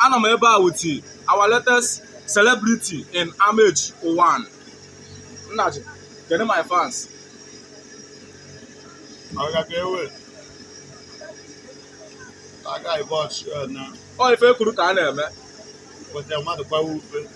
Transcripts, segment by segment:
anọ m ebe a with our latest celebrity in Amechi Uwani nnaji kedu my fans Aga ka ewe. Aga ịbọ ọchị na ọ ife e kwuru ka a na-eme weta mmadụ gbawa ufe.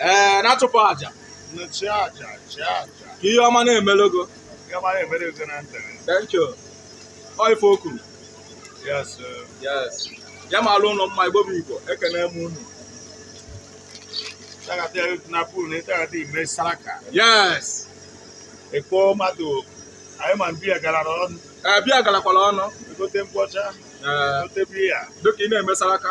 ee na-achụpụ aja ka ihe ọma na-emelogo thank you ọ ife o kwuru yes ya ma alụ ụlọ mma igbo bụ igbo ekene m unu yes ekpo mmadụ anyị ma biya gara ọnụ ee biya garakwara ọnụ egote nkwụ ọcha egote biya dịka ị na-emesara aka